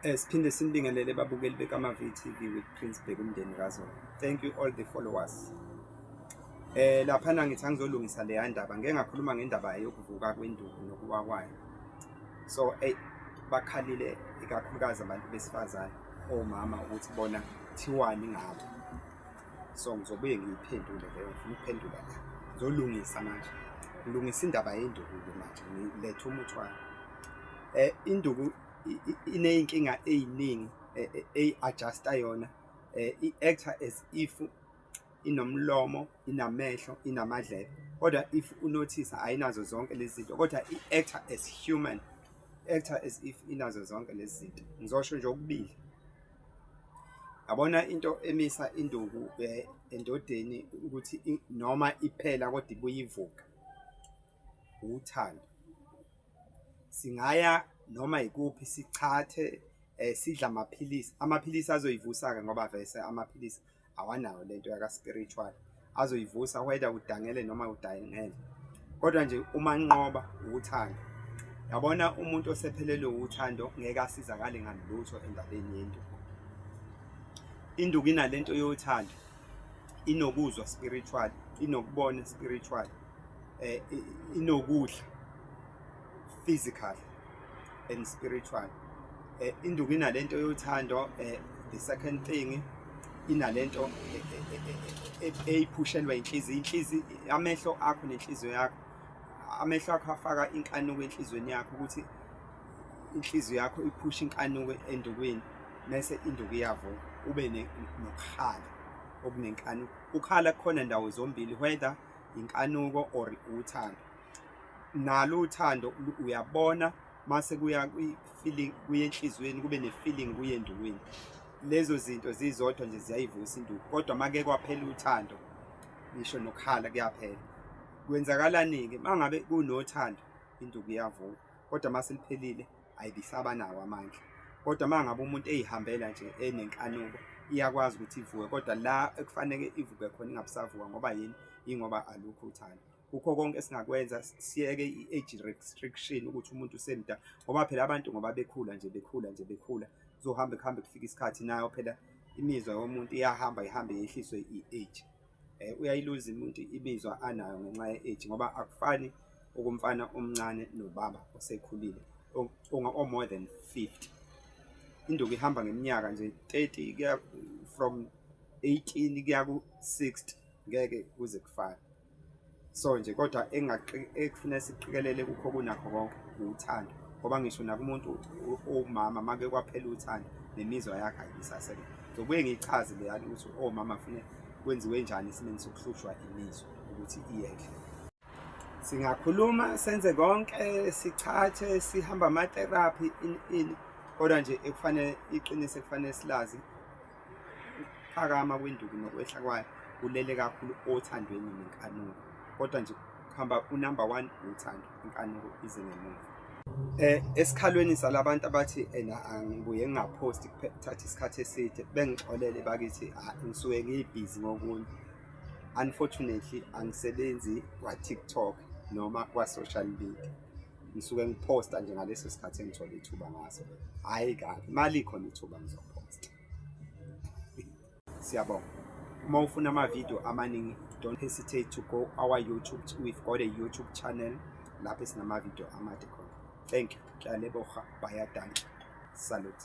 Eh, siphinde sinibingelele babukeli bekamavi TV with Prince Bheka umndeni kaZola. Thank you all the followers. Eh lapha na ngithi angizolungisa le yandaba ngeke ngakhuluma ngendaba yokuvuka kwenduku nokuwa kwayo. So eh bakhalile ikakhulukazi abantu besifazane omama ukuthi bona thiwani ngabo. So ngizobuye ngiyiphendule leyo ngifuna ukuphendula la. Ngizolungisa manje. Ngilungisa indaba yenduku manje ngilethe umuthi wayo. Eh induku ineyinkinga eziningi e, e, eyi adjusta yona eh, i actor as if inomlomo inamehlo inamadlebe kodwa if unothisa ayinazo zonke lezi zinto kodwa i actor as human actor as if inazo zonke lezi zinto ngizosho nje okubili yabona into emisa induku eh, endodeni ukuthi noma iphela kodwa ibuyivuka uthando singaya noma ikuphi sichathe eh sidla amaphilisi amaphilisi azoyivusa ke ngoba vese amaphilisi awanayo lento yaka spiritual azoyivusa whether udangele noma udayingele kodwa nje uma nqoba uthando yabona umuntu osephelelwe uthando ngeke asizakale ngalutho endabeni yento induku inalento yothando inokuzwa spiritual inokubona spiritual eh inokudla physical and spiritual eh induku inalento yothando eh the second thing inalento eh, eh, eh, eyipushelwa inhliziyo inhliziyo amehlo akho nenhliziyo yakho amehlo akho afaka inkanuko enhlizweni yakho ukuthi inhliziyo yakho iphusha inkanuko endukwini mese induku iyavuka ube nokuhala okunenkanuko ukhala kukhona ndawo zombili whether inkanuko or uthando nalo uthando uyabona mase kuya kwi-feeling kuye enhliziyweni kube ne-feeling kuye endukwini lezo zinto zizodwa nje ziyayivusa induku kodwa make kwaphela uthando ngisho nokukhala kuyaphela kwenzakalani-ke uma ngabe kunothando induku iyavuka kodwa uma seliphelile ayibisaba nawo amandla kodwa uma ngabe umuntu eyihambela nje enenkanuko iyakwazi ukuthi ivuke kodwa la ekufanele ivuke khona ingabusavuka ngoba yini ingoba alukho uthando kukho konke esingakwenza siyeke i-age restriction ukuthi umuntu usemda ngoba phela abantu ngoba bekhula nje bekhula nje bekhula kuzohambe kuhambe kufika isikhathi nayo phela imizwa yomuntu iyahamba ihambe yehliswe i-age eh, uyayiluza umuntu imizwa anayo ngenxa ye-age ngoba akufani okomfana omncane nobaba osekhulile o-more than 50 induku ihamba ngeminyaka nje 30 kuya from 18 kuya ku-60 ngeke kuze kufane so nje kodwa ekufuna siqikelele kukho kunakho konke uthando ngoba ngisho nakumuntu owumama make kwaphela uthando nemizwa yakhe ayibisasebenza ngizobuye ngiyichaze leyani ukuthi omama fune kwenziwe njani esimeni sokuhlushwa imizwa ukuthi iyehle singakhuluma senze konke sichathe sihamba amatherapy in in kodwa nje ekufanele iqiniso ekufanele silazi ukuphakama kwenduku nokwehla kwayo kulele kakhulu othandweni nenkanuko kodwa nje kuhamba unumber one uthando inkanuko ize ngemuva eh esikhalweni salabantu abathi ena angibuye ngingaphosti kuthatha isikhathi eside bengixolele bakithi ah, ngisuke ngibhizi ngokunye unfortunately angisebenzi kwa TikTok noma kwa social media ngisuke ngiphosta nje ngaleso sikhathi engithole ithuba ngaso hayi kabi mali khona ithuba ngizophosta siyabonga uma ufuna ama-video amaningi don't hesitate to go our youtube we've got a youtube channel lapho esinama-video amade khona thank you kyaleboha bayadantsha salute